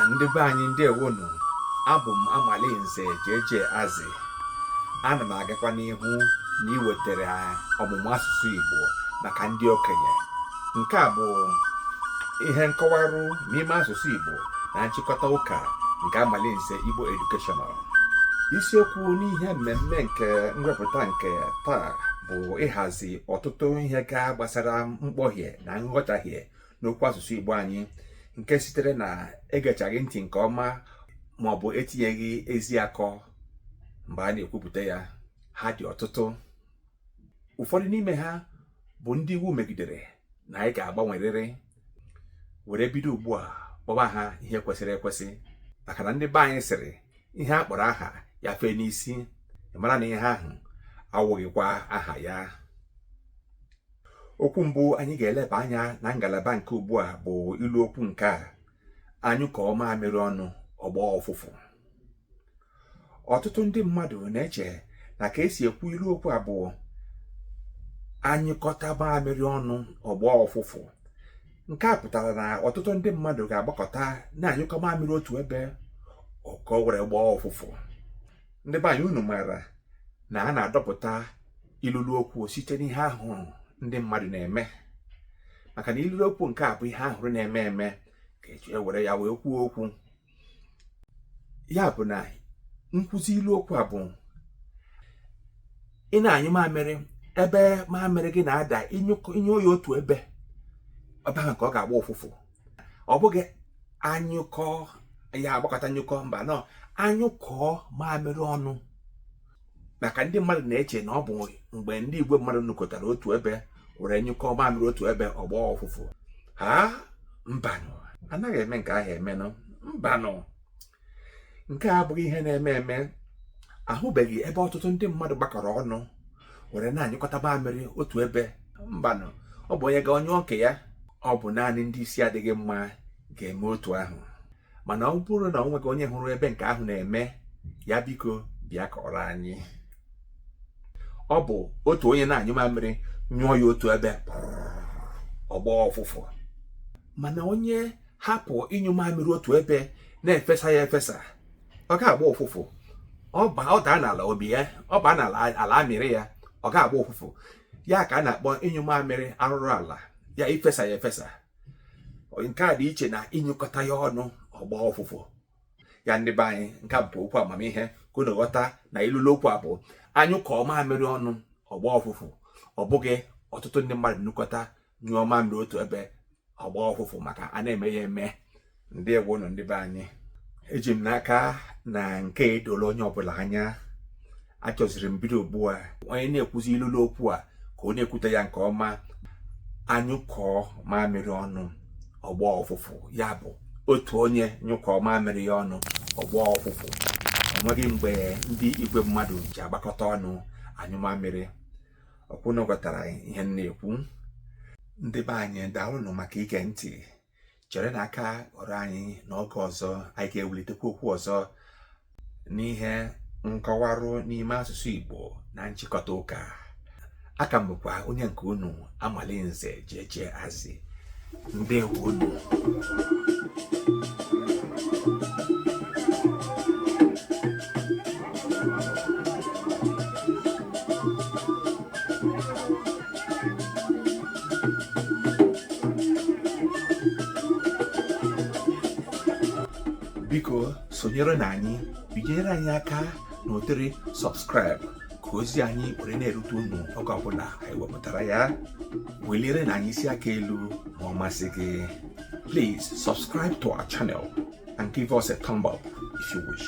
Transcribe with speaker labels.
Speaker 1: ndị be anyị ndewonụ abụ m amalinze jeje azị ana m agakwa n'ihu na iwetara ọmụmụ asụsụ igbo maka ndị okenye nke a bụ ihe nkọwarụ n'ime asụsụ igbo na nchịkọta ụka nke amalinze igbo educational isiokwu n'ihe mmemme nke mwepụta nke taa bụ ịhazi ọtụtụ ihe ga gbasara mkpọhie na nghọtahie n'okwu asụsụ Igbo anyị nke sitere na egechaghị ntị nke ọma ma ọ bụ etinyeghị ezi akọ mgbe a na-ekwupụta ya ha dị ọtụtụ ụfọdụ n'ime ha bụ ndị iwu megidere na anyị ga-agbanwerịrị were bido ugbu a kpọba ha ihe kwesịrị ekwesị maka na ndị be anyị sịrị ihe a kpọrọ aha ya fee n'isi mara na aha ahụ awụghịkwa aha ya okwu mbụ anyị ga-eleba anya na ngalaba nke ugbu a bụ ilu okwu nke a a nyụkọọ mamịrị ọnụ ọ gbọọ ụfụfụ ọtụtụ ndị mmadụ na-eche na ka e si ekwu ilu okwu a bụ a nyụkọta mamịrị ọnụ ọ gbọọ ụfụfụ nke a pụtara na ọtụtụ ndị mmadụ ga-agbakọta na-anyụkọ mamịrị otu ebe ka o were gbọọ ụfụfụ ndị be anyị unu maara na a na-adọpụta ilulu okwu site n'ihe a hụrụ ndị mmadụ na-eme maka na ilulu okwu nke a bụ ihe a hụrụ na-eme eme ka e ji ewere ya wee kwuo okwu ya bụ na nkwuzi ilu okwu a bụ ị na-anyụ mamịrị ebe mamịrị gị na-ada ị nyụọ ya otu ebe ọ bụ ya ka ọ ga-agba ụfụfụ ọ bụghị a nyụkọọ ya a gbakọta nyụkọọ mbanụ a nyụkọọ mamịrị ọnụ maka ndị mmadụ na-eche na ọ bụ mgbe ndị igwe mmadụ nọkọtara otu ebe were nyụkọọ mamịrị otu ebe ọ gbọọ ụfụfụ ha mbanụ anaghị eme nke ahụ emenụ mbanụ nke a abụghị ihe na-eme eme ahụbeghị ebe ọtụtụ ndị mmadụ gbakọrọ ọnụ were na-anyụkọta mamịrị otu ebe mbanụ ọ bụ onye gaa ọ nyụọ nke ya ọ bụ naanị ndị isi adịghị mma ga-eme otu ahụ mana ọ bụrụ na o nweghị onye hụrụ ebe nke ahụ na-eme ya biko bịa kọọrọ anyị ọ bụ otu onye na-anyụ mamịrị nyụọ ya otu ebe ọ gbọọ ụfụfụ mana onye hapụ ịnyụ mamịrị otu ebe na-efesa ya efesa ọ ga-agba ụfụfụ ọ daa n'ala obi ya ọ baa n'ala ala amịrị ya ọ ga-agba ụfụfụ ya ka a na-akpọ ịnyụ mamịrị arụrụ ala ya ifesa ya efesa nke a dị iche na ịnyụkọta ya ọnụ ọ gbọọ ụfụfụ ya ndị be anyị nke a bụ okwu amamihe ka unu ghọta na ilulu okwu a bụ a nyụkọọ mamịrị ọnụ ọ gbọọ ụfụfụ ọ bụghị ọtụtụ ndị mmadụ nọkọta nyụọ mamịrị otu ebe ọ gbọọ ụfụfụ maka a na-eme ya eme ndewonụ ndị be anyị eji m n'aka na nke edola onye ọbụla anya achọziri m bido ugbu a onye na-ekwuzi ilulu okwu a ka ọ na-ekwute ya nke ọma a nyụkọọ mamịrị ọnụ ọ gbọọ ụfụfụ ya bụ otu onye nyụkọọ mamịrị ya ọnụ ọ gbọọ ụfụfụ enweghị mgbe ndị igwe mmadụ ji agbakọta ọnụ anyụ mamịrị ọ kwa unu ghọtara ihe m na-ekwu ndị be anyị daalụnụ maka ige ntị cherenụ aka ọrụ anyị n'oge ọzọ anyị ga-ewulitekwa okwu ọzọ n'ihe nkọwarụ n'ime asụsụ Igbo na nchịkọta ụka a ka m bụkwa onye nke unu Amalinze jeje azi ndewonụ biko sonyerenụ anyị binyere anyị aka n'ụdịrị subscribe ka ozi anyị were na-erute unu oge ọbụla anyị wepụtara ya welierenụ anyị isi aka elu ma ọ masị gị please subscribe to our channel and give us a thumb up if you wish